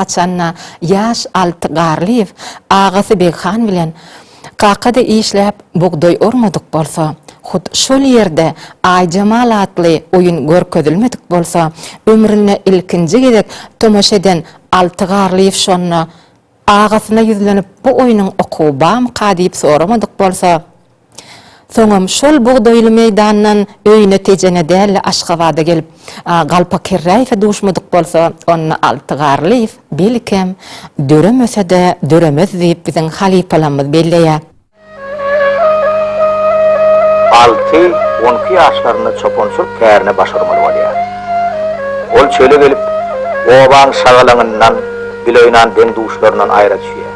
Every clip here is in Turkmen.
Haçan-da, ýaş Alty Garlyýew agasy Beghan bilen kakada işläp bugdaý ormadyk bolsa, hut şol ýerde Aýjemal atly oýun görkezilmedik bolsa, ömründe ilkinji gezek tomaşa eden Alty Garlyýew şonda agasyna ýüzlenip bu oýnuň okuwy barmyka diýip soramadyk bolsa, Soňam şol bugdaýly meýdandan öýüne Tejene däl-de Aşgabada gelip, Galpa Kerräýewe duşmadyk bolsa, onda Alty Garlyýew, belkem, döremese-de döremez diýip biziň halypalamyz belleýä. Alty on iki ýaşlarynda çopançylyk kärine baş urmaly bolýa. Ol çöle gelip, obaň şagalaňyndan, biloýnan deň-duşlaryndan aýra düşýä.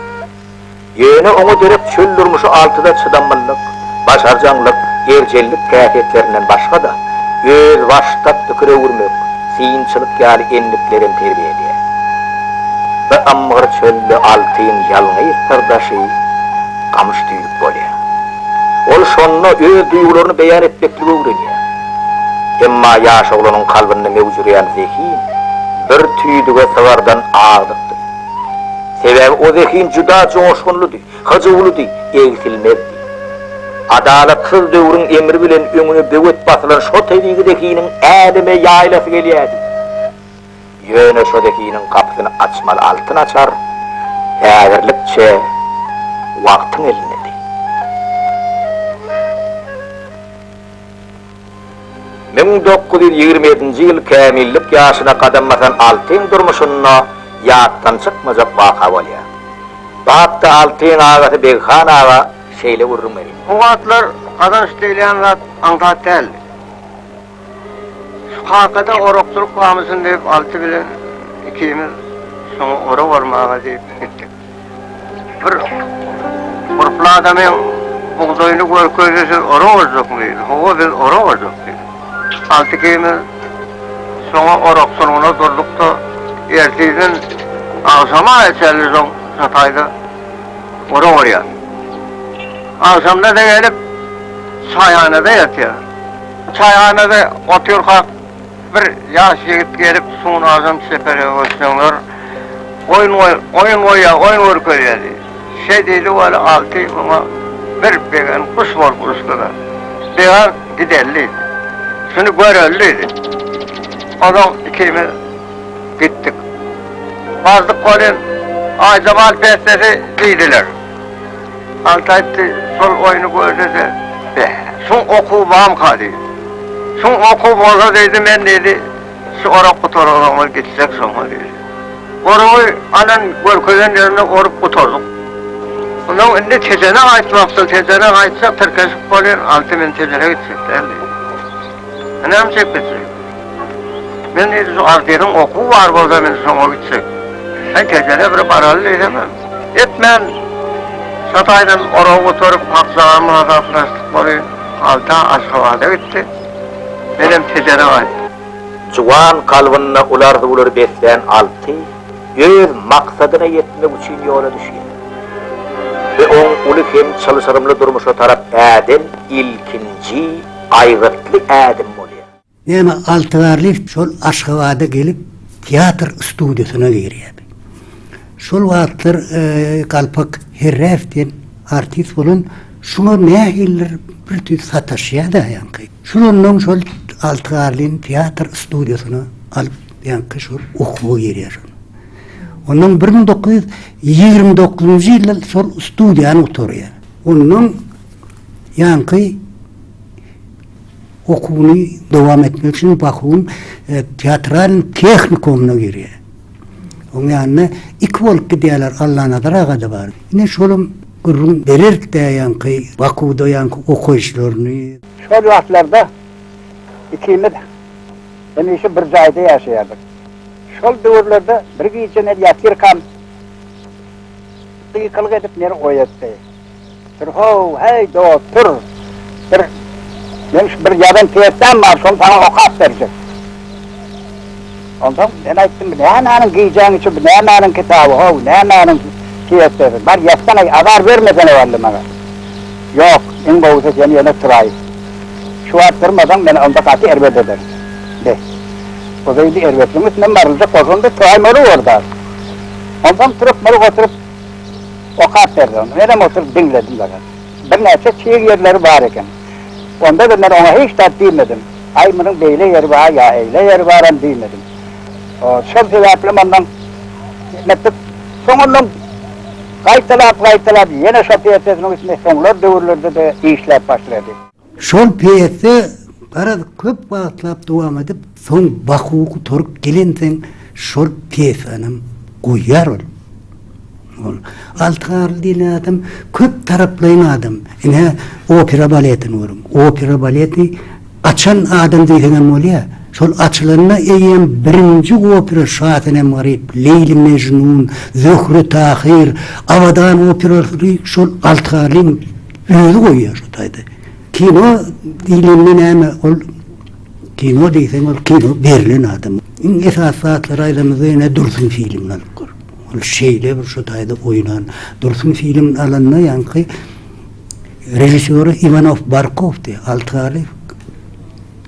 Ýöne oňa gerek çöl durmuşy altyda çydamlylyk, başarjaňlyk, erjellik kähetlerinden başga-da, özbaşdak pikir öwürmek, synçylyk ýaly endiklerem terbiýe edýär. Bu ymgyr çölde Altyň ýalňyz syrdaşy gamyş düýlük bolýar. Ol şonda öz duýgularyny beýan etmekligi öwrenýär. Emma ýaş oglanyň kalbynda möwjüreýän zehin bir tüýdüge sygardan agdykdy. Sebäbi o zehin juda joşgunlydy, hyjuwlydy, egsilmezdi. Adalatsyz döwrüň emri bilen öňüne böwet basylan şo tebigy zehiniň äleme ýaýlasy gelýärdi. Ýöne şo zehiniň gapysyny açmaly altyn açar häzirlikçe wagtyň elindedi. Müň dokuz ýüz ýigrimi ýedinji ýyl kämillik ýaşyna gadam basan Altyň durmuşynda ýatdan çykmajak waka bolýar. Batda Altyň agasy Beghan aga şeýle gürrüň berýär. O wagtlar gazanç diýilýän zat aňsat däldi. Şu kakada orakçylyk bamyşyn diýip Alty bilen ikimiz şoňa orak ormaga diýip gitdik. Bir gurply adamy bugdaýyny görkezdi, siz ora barjakmy diýdi. Hawa, biz ora barjak diýdi. Alty-ikimiz soňa orak sulgyna durduk-da, ertirden agşama çenli soň çataýda ora barýas. Agşamda-da gelip, çaýhanada ýatýas. Çaýhanada oturkak. Bir ýaş ýigit gelip Sunardan çeperek öçseňler oýun oýun goýýa oýun görkezýä diýdi. Şe diýdi weli Alty muňa bir begen guş bolup uçdyda. Began gideli diýdi. Şuny göreli diýdi. Ozaň ikimiz gitdik. Bardyk welin Aýda bal bessesi diýdiler. Alty aýtdy, şol oýny görde-de, Be, suň okuw bamka diýdi. Suň okuw bolsa diýdi, men diýdi, şu orak gutargan soňlar gitsek şoňa diýdi. Oragy alan görkezen ýerinde orup gutardyk. Onsoň indi Tejene gaýtmakçy, Tejene gaýtsak tirkeşip bolýar, Alty men Tejene gitjek däl diýdi. Ynam çekilse. Men diýdi şu artýeriň okuw bar bolsa men şoňa gitjek. Sen gejele bir baraly diýdim. Etmän Şataýdan oragy göterip Akjagamy hasaplaşdyk boly Alta Aşgabada gitdi. Menem Tejere gaýtdym. Juwan kalbynda uly arzuwlary beslän Alty öz maksadyna ýetmek üçin ýola düşýär we oň uly hem çylşyrymly durmuşa tarap äden ilkinji Aýgytly ädim bolýar. Näme Altygarlyýew şol Aşgabada gelip teatr studiýasyna girýärdi. Şol wagtlar Galpak Herräew diýen artist bolan şuňa nähilidir bir tüýs sataşýar-da ýaňky. Şulandan şol Altygarlyny teatr studiýasyna alyp ýaňky şol okuwa girýär şol. Ondan bir müň dokuz ýüz ýigrimi dokuzynjy ýylda şol studiýany gutarýar. Ondan Ýaňky okuwyny dowam etmek üçin Bahuň teatralnyý tehnikumyna girýär. Oň ýanynda iki bolup gidýärler, Allanazar aga-da bar. Ine şolam gürrüň berer-dä ýaňky Bahuda ýaňky okaýyşlaryny. Şol wagtlarda ikimiz hemişe bir jaýda ýaşaýardyk. Şol döwürlerde bir gije men ýatyrkam gykylyk edip meni oýatdy. Tur-how, heý, dost, tur! Bir, men şu bir ýazan pýesam bar, şony saňa okap berjek. Onsoň men aýtdym, bu nämäniň gijäň içi, bu nämäniň kitaby, ho-ow, nämäniň pýesasy? Bar, ýatsana-aý, azar bermesene wally maňa. Ýok, iň gowusy sen ýene turaý. Şu wagt turmasaň, meni onda gaty erbet ederdi. Be, bu beýle erbetligiň üstüne maryljak bolsam-da, turaýmaly bor-da. Onsoň turup, murup oturyp. Okap berdi ony. Menem oturyp diňledim dagy. Birnäçe çyg ýerleri bar eken. Onda-da men oňa hiç zat diýmedim. Aý, munuň beýle ýeri bar ýa eýle ýeri baram diýmedim. Şol sebäplem ondan nätdik. Soň ondan gaýtalap-gaýtalap ýene şopýersesiniň üstünde soňlar döwürlerde-de işläp başlady. Şol pýesa garaz köp wagtlap dowam edip, soň Baku gutaryp gelensoň şol pýesanam goýýar ol. Ol Altygarly diýlen adam köp taraplaýyn adam. Ine, opera baletini görüň. Opera baleti açan adam diýseňem bolýar. Şol açylanda eýýäm birinji opera Şasenem Garyp, Leýli Mejnun, Zöhre Tahyr, Abadan operalary şol Altygarlyň Özi goýýar şu taýda. Kino diýlende näme ol kino diýseň ol kino berlen adama. Iň esasy zatlary aýdamyzda ýene Dursun filmini alyp gör. Ol şeýle bir şu taýda oýnan. Dursun filmini alanda ýaňky režissýory Iwanow Barkowdy, Alty Garlyýew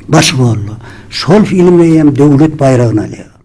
baş rolda. Şol filmde eýýäm döwlet baýragyny alýar.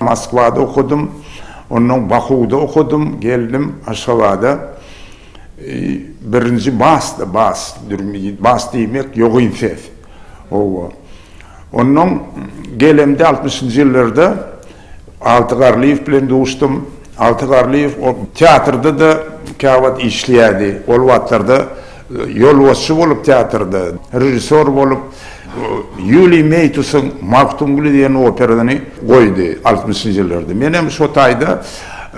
Moskwada okadym. Onnoň Bakuwda okadym. Geldim Aşgabada. Birinji basda, bas, bas diýmek ýogyn ses. Howwa. Onnoň gelemde altmyşynjy ýyllarda Alty Garlyýew bilen duşdum. Alty Garlyýew teatrda-da käwagt işleýärdi. Ol wagtlarda Ýolbaşçy bolup teatrda, režissýor bolup Ýuliý Meýtusyň Magtymguly diýen operasyny goýdy altmyşynjy ýyllarda. Men hem şo taýda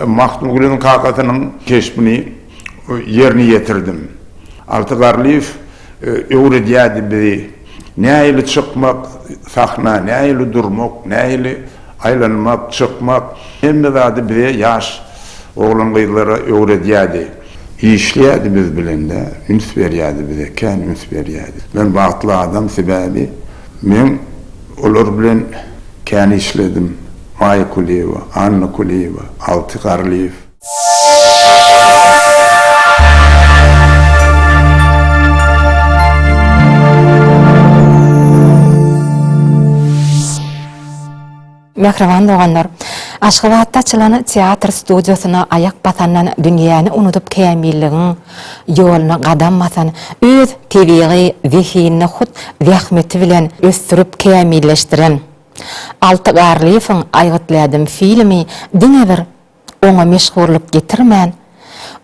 Magtymgulynyň kakasynyň keşbini ýerine ýetirdim. Alty Garlyýew öwredýärdi bizi. Nähili çykmak, sahna, nähili durmak, nähili aýlanmak, çykmak, hemme zady bize ýaş oglan-gyzlara öwredýärdi. Işleýärdi biz bilen-de, üns berýärdi bize, kän üns berýärdi. Men bagtly adam, sebäbi men olar bilen kän işledim, Maýa Kulyýewa, Anna Kulyýewa, Alty Garlyýew. Mähriban doganlar! Aşgabatda açylan teatr studiýasyna aýak basandan dünýäni unudyp kämilligiň ýoluna gadam basan, öz tebigy zehinini hut zähmeti bilen ösdürip kämilleşdiren Alty Garlyýewiň Aýgytlädim filmi diňe bir Oňa meşhurlyk getirmän,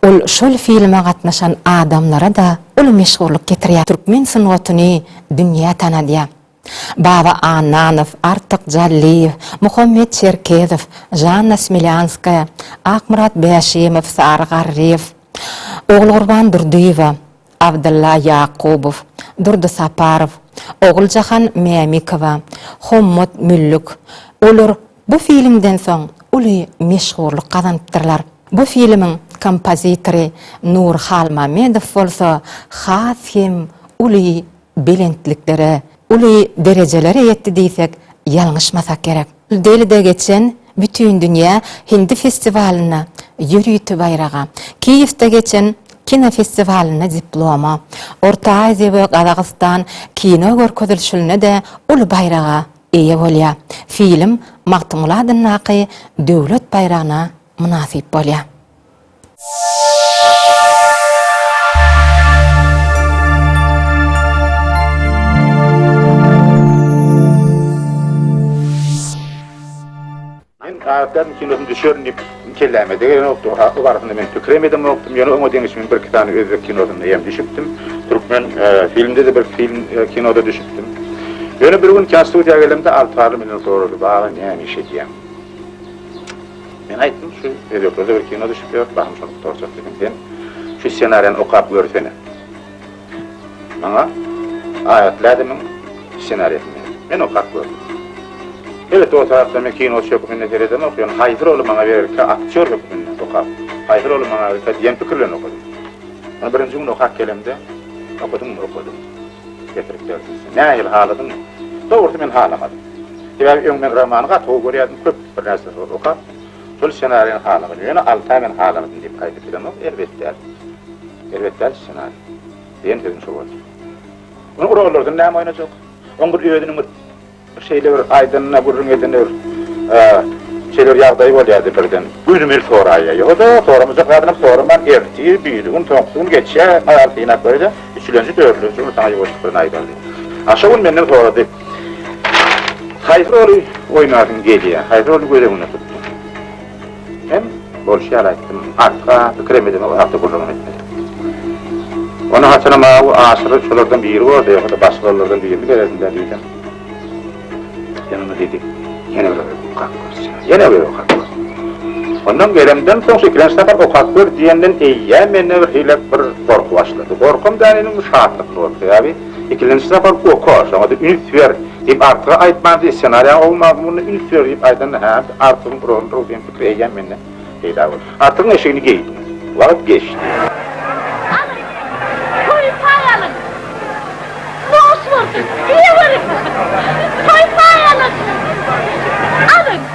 ol şol filme gatnaşan adamlara-da uly meşhurlyk getirýär, türkmen sungatyny dünýä tanadýar. Baba Annanow, Artyk Jallyýew, Muhammet Çerkezow, Žanna Smilýanskaýa, Akmyrat Bäşimow, Sary Garryýew, Ogulgurban Durdyýewa, Abdylla Ýakubow, Durdy Saparow, Oguljahan Mämikowa, Hommat Müllük, olar Bu filmden soň uly meşhurlyk gazanypdyrlar. Bu filmiň kompozitory Nur Halmamedow bolsa has hem uly belentliklere, uly derejelere ýetdi diýsek ýalňyşmasak gerek. Delide geçen Bütindünýä hindi festiwalynda ýörite baýraga, Kiýewde geçen kinofestiwalynda diploma, Orta Aziýa we Gazagystan kino görkezilişilinde-de uly baýraga eýe bolýar. Film Magtymguly adyndaky Döwlet baýragyna mynasyp bolýar. Men karakteriniň kinosyny düşerin diýip kelläme degenokdy. O barasynda men pikirem edemokdym. Ýöne oňa deňiş men birki sany özbek kinosynda hem düşüpdim. Türkmen filmde-de birki film kinoda düşüpdim. Ýöne bir gün kän studiýa gelemde Altygarly menden sorady, Baba, näme iş edýäň? Men aýtdym, şu özbeklerde bir kino düşüp ýör, bahym şony gutarjak diýdim. Sen şu ssenariýany okap görsene. Maňa Aýat Lädemiň ssenariýasyny men okap gördüm. Elbetde, o tarapdan men kinoçy hökmünde seredemok, ýöne haýsy roly maňa bererkä aktýor hökmünde okap, haýsy roly maňa bererkä diýen pikir bilen okadym. Ony birinji gün okap gelemde, okadyňmy? Okadym. Getirip berdi. Nähili, haladyňmy? Dogrusy, men halamadym. Sebäbi öň men romany gaty gowy görýärdim, köp bir närse okap, Şol ssenariýany halaňyz, ýöne Altaý men halanydym diýip gaýdyp bilemok, erbet däl. Erbet däl ssenariý. Diýen sözüm şo boldy. Muny urarlardan näme oýnajak? Oň bir özüniň bir bir şeýle bir aýdanyna, gürrüň edene bir şeýle bir ýagdaýy bolýardy birden. Gözüm el soraýýar. Ýo-da, soramajak zadynam soraman, ertir, biri gün, soňky gün geçýär, aýal synap görýär-de, üçülenji, dördülenji gün saňa ýuwaşlyk bilen aýdardy. A şo gün menden sorady. Haýsy roly oýnasyn gelýär? Haýsy roly göz öňünde tutdyň? Men bolşy ýaly aýtdym, arka pikirem edemok, arka gürrüňem etmedim. Ony haçanam awy aşyry şolardan biri boldy, ýa-da başga rollardan birini bererdim-dä diýdim. Ýene ony diýdi, ýene bir gezek okap görseň, ýene bir gezek okap gör. Ondan gelemden soň, ikilenji sapar okap gör diýenden eýýäm mende birhili bir gorky başlady. Gorkam däl indi, şatlykly boldy. Sebäbi, Ikilenji sapar oka, şoňa-da üns ber! diýip Artyga aýtmandy, ssenariýaň gowy mazmunyna üns ber diýip aýdanda häm-de Artygyň uragyny ur diýen pikir eýýäm mende peýda boldy. Artygyň eşigini geýdim. Wagt geçdi. Alyň, toýy paý alyň! Noş bolsun! diýeweriň! Toýy paý alyň! Alyň!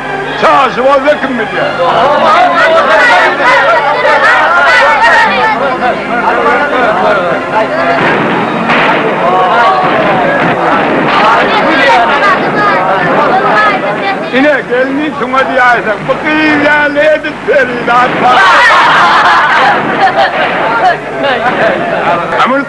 Çaşy bolsa kim bilýär. Ine gelni şuňa diýäýseň, bu gyz ýaly edip perizat bar.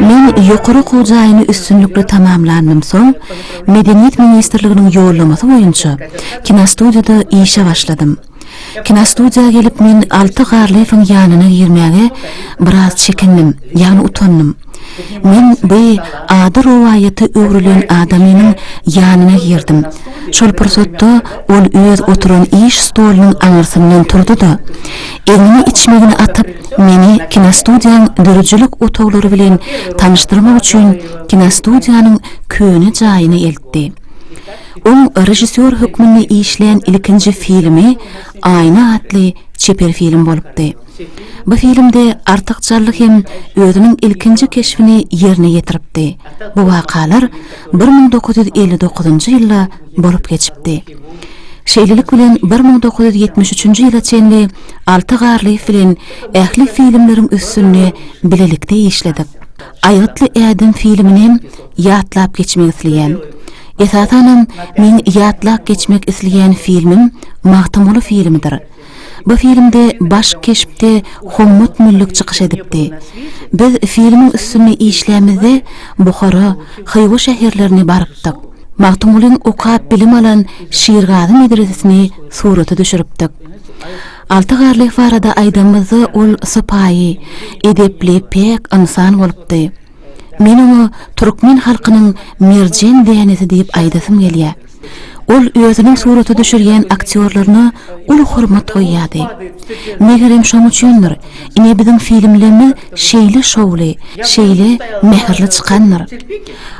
Men ýokary okuw jaýyny üstünlikli tamamlandym soň, Medeniýet ministrliginiň ýollamasy boýunça kinostudiýada işe başladym. Kinostudiýa gelip men Alty Garlyýewiň ýanyna girmäge biraz çekindim, ýagny utandym. Men bi ady rowaýata öwrülen adamynyň ýanyna girdim. Şol pursatda ol öz oturan iş stolunyň aňyrsyndan turdy-da, egnine içmegini atyp, meni kinostudiýaň döredijilik otaglary bilen tanyşdyrmak üçin kinostudiýanyň köne jaýyna eltdi. Oň režissýor hökmünde işlän ilkinji filmi Aýna atly çeper film bolupdy. Bu filmde Artyk Jally hem özüniň ilkinji keşbini ýerine ýetiripdi. Bu wakalar bir müň dokuz ýüz elli dokuzynjy ýylda bolup geçipdi. Şeýlelik bilen bir müň dokuz ýüz ýetmiş üçünji ýyla çenli Alty Garlyýew bilen ähli filmleriň üstünde bilelikde işledik. Aýgytly ädim filminem ýatlap geçmek isleýän. Esasanam meň ýatlap geçmek isleýän filmim Magtymguly filmidir. Bu filmde baş keşpde Hommat Müllik çykyş edipdi. Biz filmiň üstünde işlämizde Buhara, Hywa şäherlerine barypdyk. Magtymgulyň okap bilim alan Şirgazy medresesini surata düşüripdik. Alty Garlyýew barada aýdanymyzda ol sypaýy, edepli, päk ynsan bolupdy. Men oňa türkmen halkynyň merjen dänesi diýip aýdasym gelýär. Ol özüniň surata düşürýän aktýorlaryna uly hormat goýýardy. Megerem şoň üçindir, ine biziň filmlerimiz şeýle şowly, şeýle mähirli çykandyr.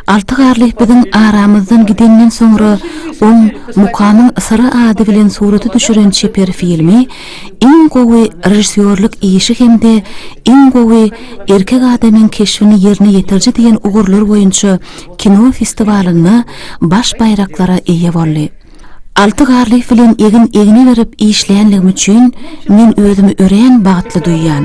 Alty Garlyýew biziň aramyzdan gidenden soňra oň Mukamyň syry ady bilen surata düşüren çeper filmi iň gowy režissýorlyk işi hem-de iň gowy erkek adamyň keşbini ýerine ýetiriji diýen ugurlar boýunça kino festiwalynda baş baýraklara eýe boldy. Alty Garlyýew bilen egin-egne berip işleýänligim üçin men özümi örän bagtly duýýan.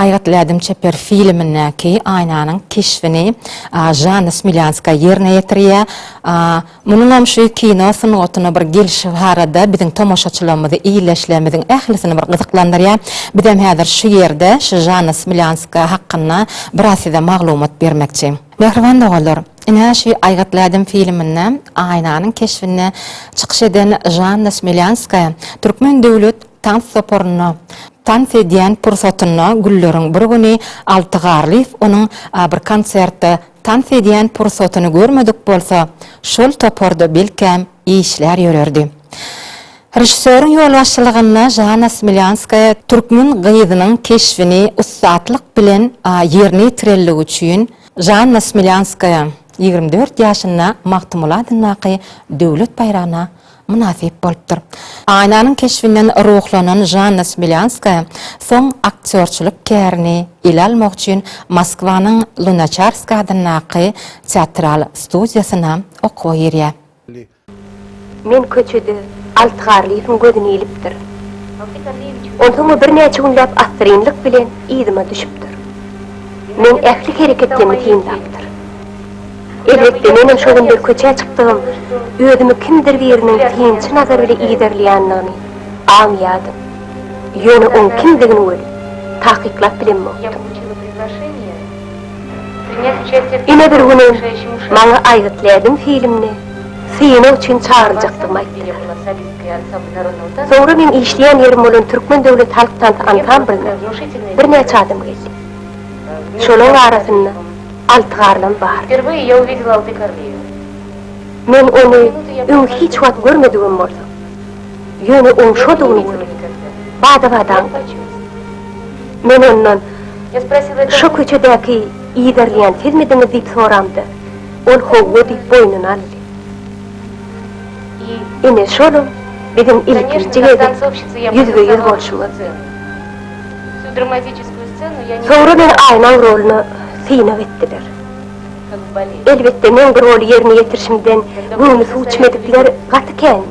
Aýgytly ädim çeper filmindäki Aýnanyň keşbini Žanna Smilýanskaýa ýerine ýetirýär. Munuňam şu kino sungatyna bir gelşi barada biziň tomaşaçylarymyzy, ildeşlerimiziň ählisini bir gyzyklandyrýar. Bizem häzir şu ýerde şu Žanna Smilýanskaýa hakynda biraz size maglumat bermekçi. Mähriban doganlar, ine şu Aýgytly ädim filminde Aýnanyň keşbinde çykyş eden Žanna Smilýanskaýa Türkmen döwlet Tans toparynda tans edýän pursatynda günleriň bir güni Alty Garlyýew onuň bir konsertde tans edýän pursatyny görmedik bolsa, şol toparda belkäm işlär ýörerdi. Režissýoryň ýolbaşçylygynda Žana Smilýanskaýa türkmen gyzynyň keşbini ussatlyk bilen ýerine ýetirendigi üçin Žanna Smilýanskaýa ýigrimi dört ýaşynda Magtymguly adyndaky Döwlet baýragyna mynasyp bolupdyr. Aýnanyň keşbinden ruhlanan Žanna Smilýanskaýa soň aktýorçylyk kärini ele almak üçin Moskwanyň Lunaçarsk adyndaky teatral studiýasyna okuwa girýär. Men köçede Alt Garlyýewiň gözüni ilipdir. Onsoň o birnäçe günläp assyrynlyk bilen yzyma düşüpdir. Meň ähli hereketlerimi synlapdyr. Elbetde, menem şo günler köçä çykdygym, özümi kimdir biriniň synçy nazary bile yzarlaýandygyny aňýardym. Ýöne oň kimdigini welin, takyklap bilenmokdym. Ine bir günem maňa Aýgyt Lädim filmine synag üçin çagyryljakdygymy aýtdylar. Soňra meň işleýän ýerim bolan Türkmen döwlet halk tansy ansamblyna birnäçe adam geldi. Şolaň arasynda Alty garnym bar. Wpierweye ya uwidel alty karniye. Men ony öň hiç wagt görmedigim bolsa, ýöne oň şodugyny gördüm. Bada-badaň öçüp. Men ondan, Şo köçedäki yzarlaýan sizmidiňiz diýip soramda, ol howwa diýip boýnuna aldy. Ine şolam biziň ilkinji gezek ýüzbe-ýüz bolşumyzdy. Soňra bir aýnaň roluna synag etdiler. Elbetde, meň bu roly ýerine ýetirişimden göwni suw içmedikler gaty kän.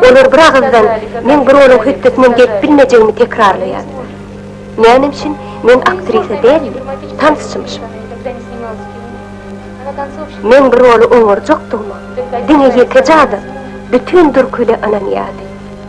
Olar bir agyzdan meň bu roluň hötdesinden gelip bilmejegimi tekrarlaýardylar. Näme üçin men aktrisa däl-de, tansçymyşym? Meň bu roly oňarjakdygyma diňe ýekeje adam, bütin Durkule ynanýardy.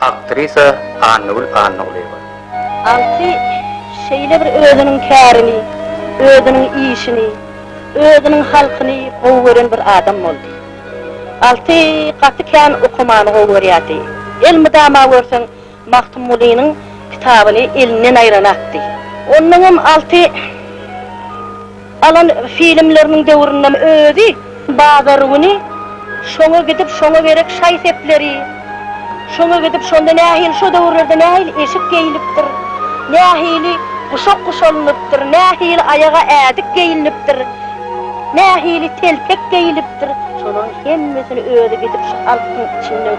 Aktrisa Annagül Annagulyýewa. Alty şeýle bir özüniň kärini, özüniň işini, özüniň halkyny gowy gören bir adam boldy. Alty gaty kän okamany gowy görýärdi. Elmydama görseň Magtymgulynyň kitabyny elinden aýranakdy. Onnoňam Alty. Alan filmleriniň döwründen özi bazar güni şoňa gidip şoňa gerek şaý sepleri, şoňa gidip şonda nähili şo döwürlerde nähili eşik geýilipdir, nähili guşak guşalynypdyr, nähili aýaga ädik geýilnipdir, nähili telpek geýilipdir, şolaryň hemmesini özi gidip şu halkyň içinden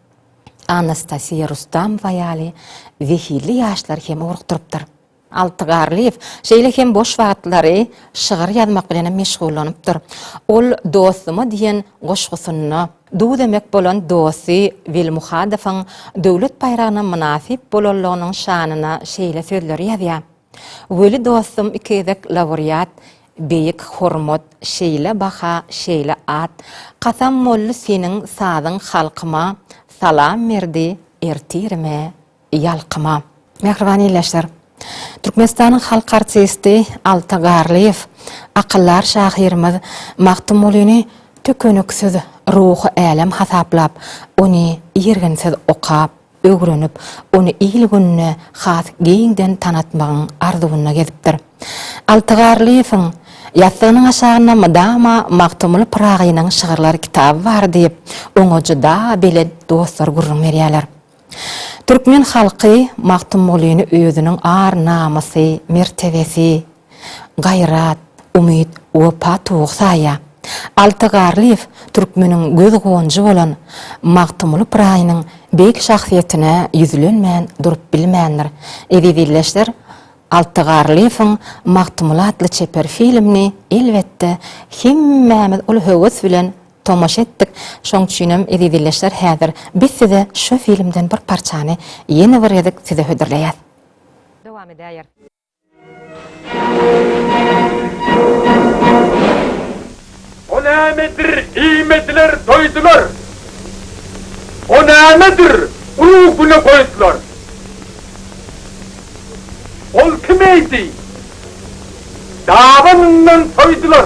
Anastasiýa Rustamowa ýaly zehinli ýaşlary hem ugrukdyrypdyr. Alty Garlyýew şeýle hem boş wagtlary şygyr ýazmak bilenem meşgullanypdyr. Ol Dostuma diýen goşgusynda duz emek bolan dosty Weli Muhadowyň Döwlet baýragyna mynasyp bolanlygynyň şanyna şeýle sözleri ýazýar. Weli dostum iki gezek lawreat Beýik hormat, şeýle baha, şeýle at, Kasam boldy seniň sazyň halkyma, Salam berdi ertirime, ýalkyma. Mähriban ildeşler! Türkmenistanyň halk artisti Alty Garlyýew akyldar şahyrymyz Magtymgulyny tükeniksiz ruhy älem hasaplap, ony irginsiz okap, öwrenip, ony il-gününe has giňden tanatmagyň arzuwynda gezipdir. Alty Garlyýewiň Ýassygynyň aşagynda mydama Magtymguly Pyragynyň şygyrlar kitaby bar diýip, oňa juda belent dostlar gürrüň berýärler. Türkmen halky Magtymgulyny özüniň ar-namysy, mertebesi, Gaýrat, umyt, wepa towuk saýa. Alty Garlyýew türkmeniň göz gonjy bolan Magtymguly Pyragynyň beýik şahsyýetine ýüzlenmän durup bilmändir. Eziz ildeşler, Alty Garlyýewiň Magtymguly atly çeper filmini, elbetde, hemmämiz uly höwes bilen tomaşa etdik. Şoň üçinem, eziz ildeşler, häzir biz size şu filmden bir parçany ýene bir gezek size hödürleýäs. Dowam edäýer. O nämedir, iýmediler, doýdular. O nämedir, urugy güne goýdular. Ol kim eýdi? Dabanyndan soýdular.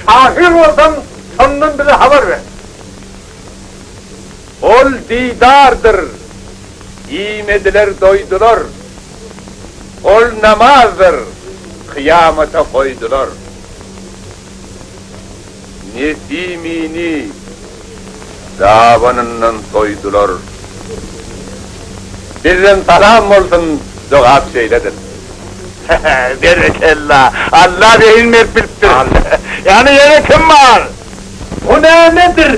Şahyr bolsaň, şondan bize habar ber. Ol Didardyr. Iýmediler, doýdular. Ol namazdyr kyýamata goýdular. Nesimini dabanyndan soýdular. Bizden salam bolsun jogap şeýledir. Berekella! Alla zehin berip bilipdir. Ýagny ýene kim bar? Bu nämedir?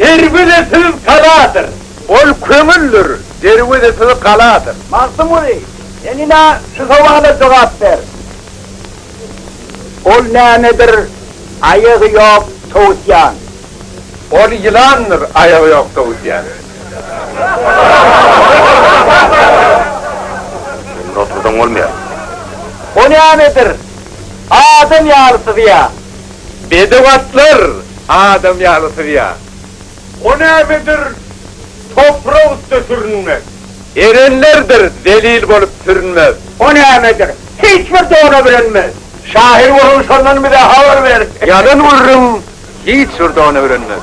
Erbil-i fewkaladyr. Ol köňüldir, derwezesiz galadyr. Magtymguly, sen ine şu sowala jogap ber. Ol nämedir, aýagy ýok towusýan. Ol ýylandyr, aýagy ýok towusýan. Indi otursaň bolmaýar. O nämedir, adam ýaly syzýan. Bedew atlar adam ýaly syzýan. O nämedir toprak üste sürünmek. Erenlerdir zelil bolup sürünmek. O nämedir hiç bir dona bürenmek. Şahyr bolun şondan bize habar ber. Ýalan gürrüň hiç bir dona bürenmek.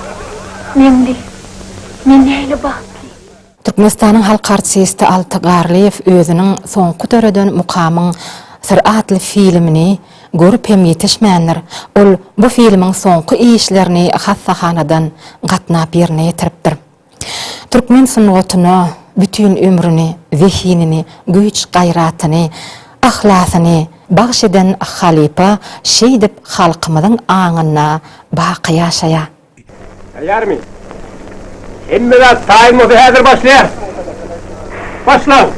Meňli, men näle bagtly. Türkmenistanyň halk artisti Alty Garlyýew özüniň soňky döreden Mukamyň syry atly filmini görüp hem ýetişmändir, ol bu filmiň soňky işlerini hassahanadan gatnap ýerine ýetiripdir. Türkmen sungatyna bütin ömrüni, zehinini, güýç-gaýratyny, yhlasyny bagş eden halypa şeýdip halkymyzyň aňynda baky ýaşaýar. Taýýarmy? Hemme zat taýyn bolsa häzir başlaýar. Başlaň.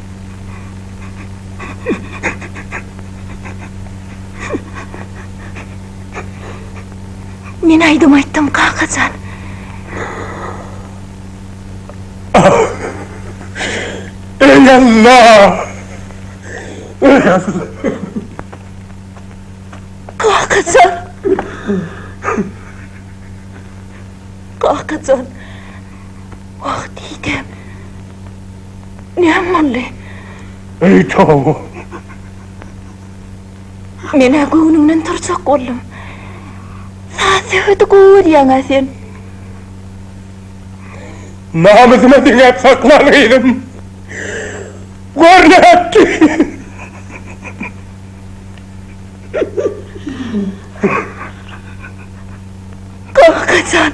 Men aýdym aýtdym, kakajan. Eý Alla! Eý Alla! Kakajan! Kakajan! Wah diýdim. Näme boldy? Eý towba! Men-ä göwnümden turjak boldum. Saz-söhbedi gowy görýäň-ä sen. Namysyma diňäp sakla, gyzym. Gör nätdi. Kaka jan!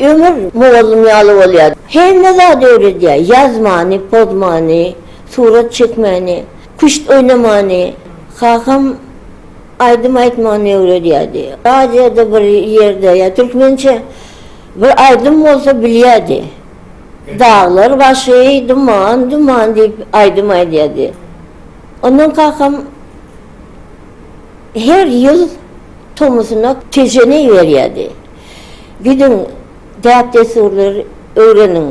Ömür mugallym ýaly bolýa. Hemme zady öwredýä. Ýazmany, pozmany, surat çekmäni, küşt oýnamany. Kakam aýdym aýtmany öwredýärdi. Radioda bir ýerde ýa türkmençe bir aýdym bolsa bilýärdi. Daglar başy duman, duman diýip aýdym aýdýardy. Ondan kakam her ýyl tomusuna tejenek berýärdi. Gidiň, däp-dessurlary öwreniň.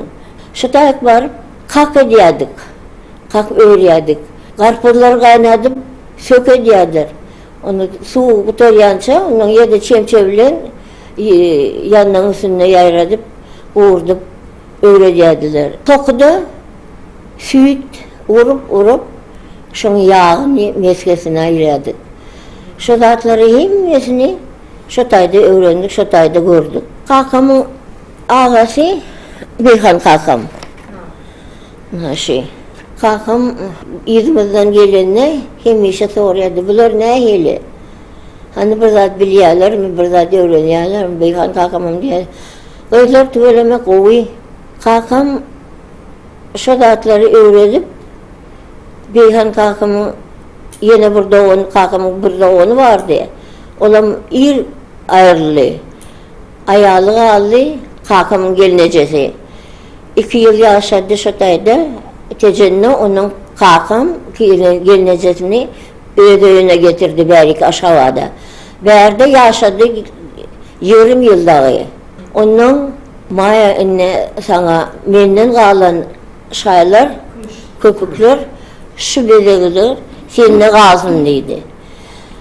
Şu taýyk baryp, kak edýärdik. Kak örýärdik. Garpyzlary gaýnadyp, sök edýärler. Onda suwy gutarýança, ondan ýerde çemçe bilen ýanlaryň üstünde ýaýradyp, gurdup öwredýärdiler. Tokuda süýt urup-urup, şonuň ýagyny mesgesine aýyrýardyk. Şu zatlaryň hemmesini. Şo taýda öwrendik, şo taýda gördük. Kakamyň agasy Beýhan kakam. Naşy. Kakam yzymyzdan gelende hemişe soraýardy, bular nähili? Hany bir zat bilýärlermi, bir zat öwrenýärlermi? Beýhan kakamam diýýärdi, Gyzlar tüweleme gowy. Kakam şo zatlary öwredip, Beýhan kakamyň ýene bir dogany, kakamyň bir dogany bardy. Olam ir aýryldy. Aýaly galdy, kakamyň gelnejesi. Iki ýyl ýaşady şo taýda. Tejende onuň kakam gelnejesini öz öýüne getirdi bäriki Aşgabada. Bärde ýaşady ýerüm ýyl dagy. Ondan Maýa indi saňa menden galan şaýlar, köpükler şu bezegidir, sende galsyn diýdi.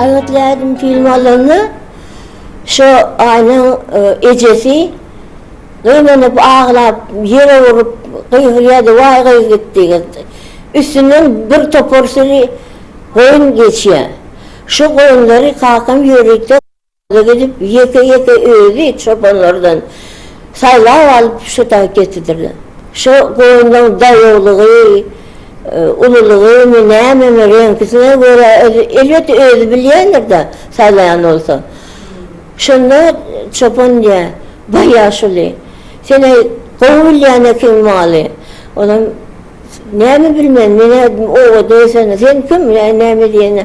Aýatlaýdym film alanda şo aýnyň e, ejesi gyýmanyp aglap ýere urup gyýgyrýardy waý gyýg gitdi gitdi. Üstünden bir topar süri goýun geçýär. Şu goýunlary kakam ýörite Ýola gidip, ýeke-ýeke özi çobanlardan saýlap alyp, şu dagy getidirler. Şu goýunlaryň daýawlygy, ululygymy, nämemi, reňkisine görä, elbetde, özi bilýändir-de, saýlaýan bolsa. Şonda çopan diýýär, Baý ýaşuly, sen-ä gowy bilýän ekeň maly. Onam, Näme bilmen, men-ä obada ösen, sen kim, näme diýene.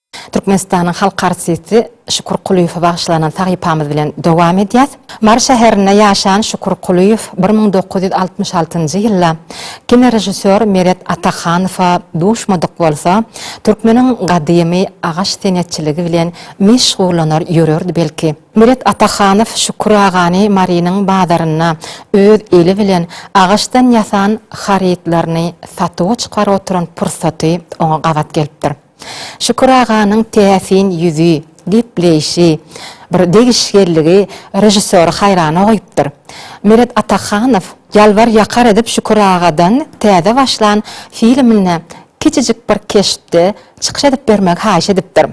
Türkmenistanyň halk artisti Şükür Kulyýewe bagyşlanan sahypamyz bilen dowam edýäs. Mary şäherinde ýaşan Şükür Kulyýew bir müň dokuz ýüz altmyş altynjy ýylda kinorežissýor Meret Atahanowa duşmadyk bolsa, türkmeniň gadymy agaç senetçiligi bilen meşgullanar ýörerdi belki. Meret Atahanow Şükür agany Marynyň bazarynda öz eli bilen agaçdan ýasan harytlaryny satuwa çykaryp oturan pursaty oňa gabat gelipdir. Şükür aganyň täsin ýüzi, gepleýşi, bir degişgelligi režissýory haýrana goýupdyr. Meret Atahanow ýalbar-ýakar edip Şükür agadan täze başlan filminde kiçijik bir keşpde çykyş edip bermegi haýyş edipdir.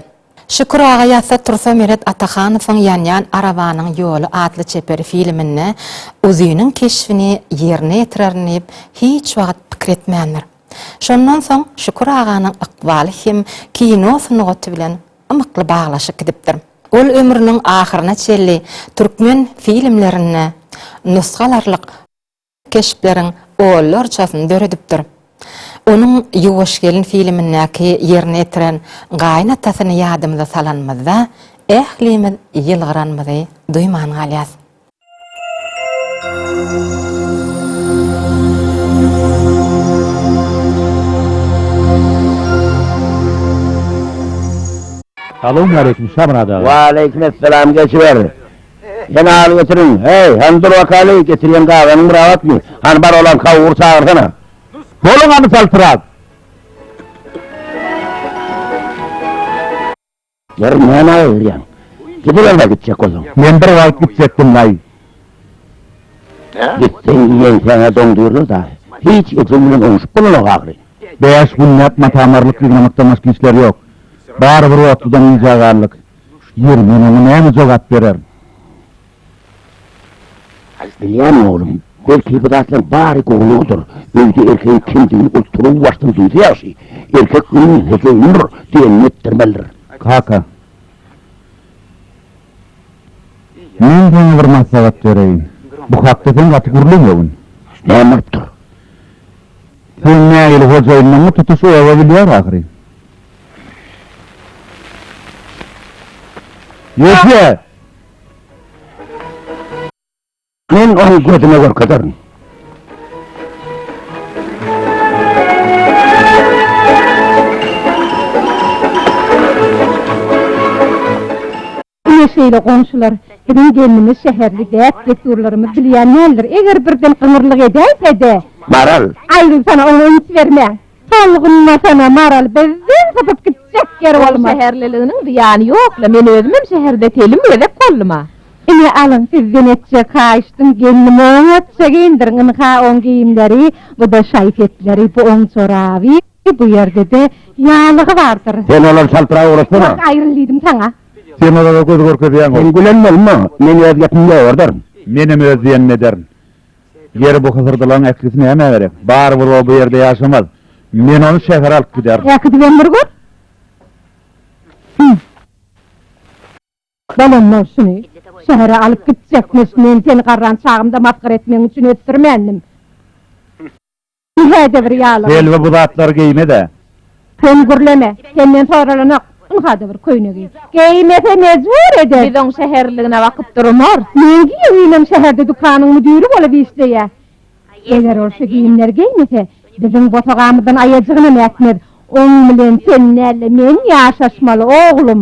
Şükür aga ýatsa tursa Meret Atahanowyň Ýanýan arabanyň ýoly atly çeper filminde Uzynyň keşbini ýerine ýetirerin diýip hiç wagt pikir etmändir. Şondan soň Şükür aganyň ykbaly hem kino sungaty bilen ymykly baglaşyk gidipdir. Ol ömrüniň ahyryna çenli türkmen filmlerinde nusgalarlyk keşpleriň onlarçasyny döredipdir. Onuň Ýuwaş gelin filmindäki ýerine ýetiren gaýynatasyny ýadymyza salanymyzda ählimiz ýylgyranymyzy duýman galýas. Salowmaleýkim Şamyrat aga. Waleýkimessalam geçiber. Ýene al getiriň. Heý, hany dur bakaly, getirýän gazanyň bir agatmy? Hany bar olam kawury çagyrsana. Boluň hany saltyrap. Ýeri nämä öwürýäň? Gidiberme gitjek bolsaň. Men bir wagt gitjekdim daýy. Gitseň ýeňsäňe doň düýrler daýy. Hiç ejeň bilen oňuşyp bolanok ahyry. Bäş günläp mata-marlyk ýygnamakdan başga işleri ýok. Bary bir otludan yzýaganlyk. Ýeri, men oňa näme jogap bererin? Bilýän oglum, belki bu zatlaryň bary gowulygydyr, öýde erkegiň kemdigini ol turugy başdan duýsa ýagşy, erkek öýüň hojaýynydyr diýenini etdirmelidir. Kaka. Men saňa bir maslahat bereýin. Bu hakda sen gaty gürlemegin. Näme bolupdyr? Sen nägile hojaýynlaňmy, tutuş oba bilýär ahyry. Ýeke! Men ony gözüne görkezerin. Ine şeýle goňşular, biziň gelnimiz şäherli däp-dessurlarymyzy bilýän däldir. Eger birden gyňyrlyk edäýse-de. Maral. Aýgyl sana oňa üns berme. Solgunma sona Maral bizden sypyp gitjek ýer bolmaz. Şäherliliginiň zyýany ýok-la, men özümem şäherde telim gezek boldum-a. Ine, alyň, sizden etjek haýyşdym, gelnim oňatja geýindiriň ynha, oň geýimleri, bu-da şaý-sepleri, bu oň joraby, bu ýerde-de ýaglygy bardyr. Sen olary çaltrak ugratsana. Wah, aýryn diýdim saňa. Sen olara göz görkezýäň-ow. Sen gülen bolma, men öz gepimi ýogardaryn. Menem öz diýenimi ederin. Ýeri bu hysyrdalaň ählisi nämä gerek? Barybir o bu ýerde ýaşamaz. Men ony şähere alyp giderin. Äkidibem bir gör. Hümm. Bolanmyş şuny. Şähere alyp gitjekmiş. Men seni garran çagymda masgara etmegiň üçin ösdürmändim. Hä-de bir ýalygym. Helwa bu zatlary geýme-dä. Sen gürleme. Senden soralanok. Ynha-da bir köýne geý. Geýmese mejbur eder. Biz oň şäherligine bakyp durmarys. Men giýewinim şäherde dükanyň müdiri bolup işleýä. Eger ol şu geýimleri geýmese, biziň bosagamyzdan aýajygynam ätmez. Oň bilen sen däl-de men ýaşaşmaly, oglum.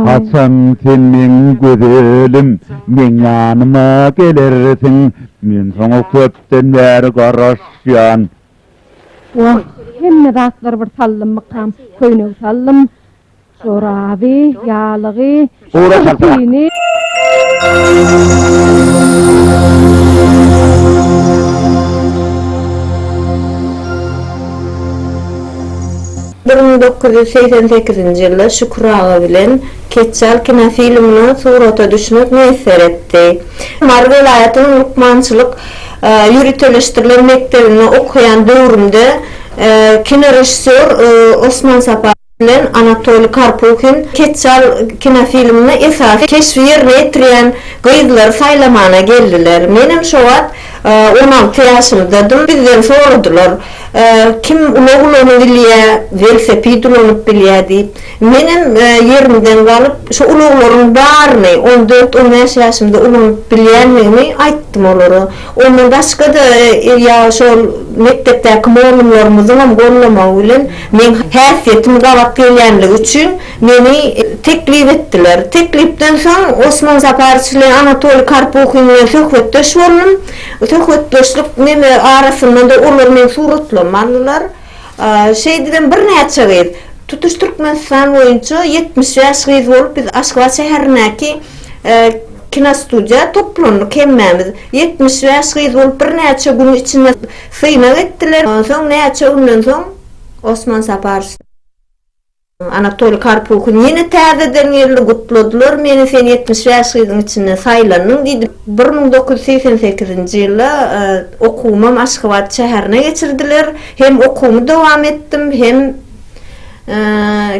Haçan sen meň gözelim, meň ýanyma gelersiň? Men saňa köpden bäri garaşýan. Wah, hemme zatlar bir sallymmykam, köýnek sallym, joraby, ýalygy, Gura çaltara. Bir müň dokuz ýüz segsen sekizinji ýylda Şükür aga bilen Ketjal kinofilmine surata düşmek miýesser etdi. Mary welaýatynyň lukmançylyk ýöriteleşdirilen mekdebinde okaýan döwrümde kinorežissýor Osman Saparow, bilen Anatoliý Karpuhin Keçjal kinofilminde esasy keşbi ýerine ýetirýän gyzlary saýlamana geldiler. Menem şo wagt on alty ýaşymdadym. Bizden soradylar, Kim ulag ulanyp bilýä, welosiped ulanyp bilýä diýip. Menem ýerimden galyp, şo ulaglaryň baryny, on dört, on bäş ýaşymda ulanyp bilýändigimi aýtdym olara. Ondan başga-da, ýa şol mekdepdäki mugallymlarymyzyňam goldamagy bilen, Meň häsiýetim gabat gelýänligi üçin meni teklip etdiler. Teklipden soň Osman Saparowiç bilen Anatoliý Karpuhin bilen söhbetdeş boldum. Söhbetdeşlik neme arasynda-da olar meni suratlama aldylar. Şeýdibem birnäçe gyz, tutuş Türkmenistan boýunça ýetmiş bäş gyz bolup biz Aşgabat şäherindäki kinostudiýa toplandyk hemmämiz. Ýetmiş bäş gyz bolup birnäçe günüň içinde Synag etdiler. Onsoň näçe günden soň Osman Saparow. Anatoliý Karpuhin ýene täzeden geldi. Gutladylar meni, sen ýetmiş bäş gyzyň içinden saýlandyň diýdi. Bir müň dokuz ýüz segsen sekizinji ýylda okuwymam Aşgabat şäherine geçirdiler. Hem okuwymy dowam etdim, hem.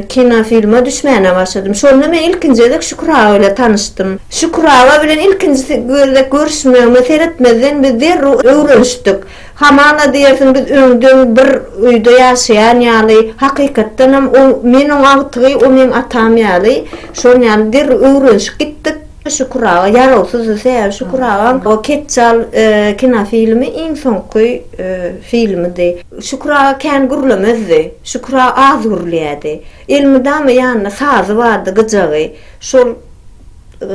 kinofilme düşmäne başladym. Şonda men ilkinji gezek Şükür aga bilen tanyşdym. Şükür aga bilen ilkinji gezek görüşmegime seretmezden biz derrew öwrenişdik. Hamala diýersiň biz öňden bir öýde ýaşaýan ýaly, hakykatdanam men oň agtygy, o meň atam ýaly. Şol ýaly derrew öwrenişip gitdik. Şükür aga ýarawsyzdy sebäbi Şükür agaň o Ketjal kinofilmi iň soňky filmidi. Şükür aga kän gürlemezdi. Şükür aga az gürleýärdi. Elmydama ýanynda sazy bardy, gyjagy. Şol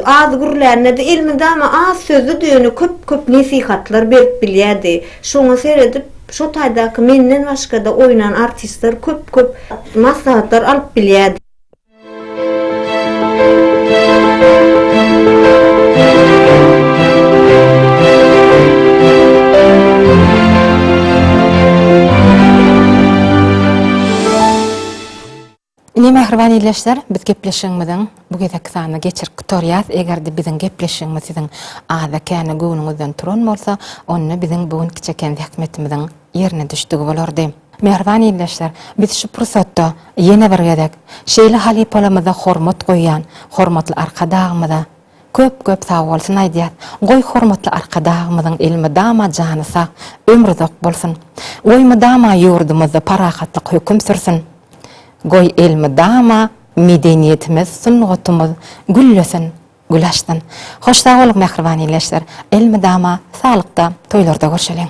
az gürlände-de elmydama az sözlüdi, ýöne köp-köp nesihatlar berip bilýärdi. Şoňa seredip, şo taýdaky menden başga-da oýnan artistler köp-köp maslahatlar alyp bilýärdi. Ine, mähriban ildeşler, biz gepleşigimiziň bu gezekki sanyny geçirip gutarýarys. Eger-de biziň gepleşigimiz siziň aza-känä göwnüňizden turan bolsa, onda biziň bu günki çeken zähmetimiziň ýerine düşdügi bolardy. Mähriban ildeşler, biz şu pursatda ýene bir gezek şeýle halypalarymyza hormat goýýan hormatly Arkadagymyza köp-köp sagbolsun aýdýas. Goý, hormatly Arkadagymyzyň elmydama jany sag, ömri uzak bolsun! Goý, mydama ýurdumyzda parahatlyk höküm sürsün! Goý, elmydama medeniýetimiz, sungatymyz güllesin, gül açsyn! Hoş sag boluň, mähriban ildeşler! Elmydama saglykda, toýlarda görşeliň!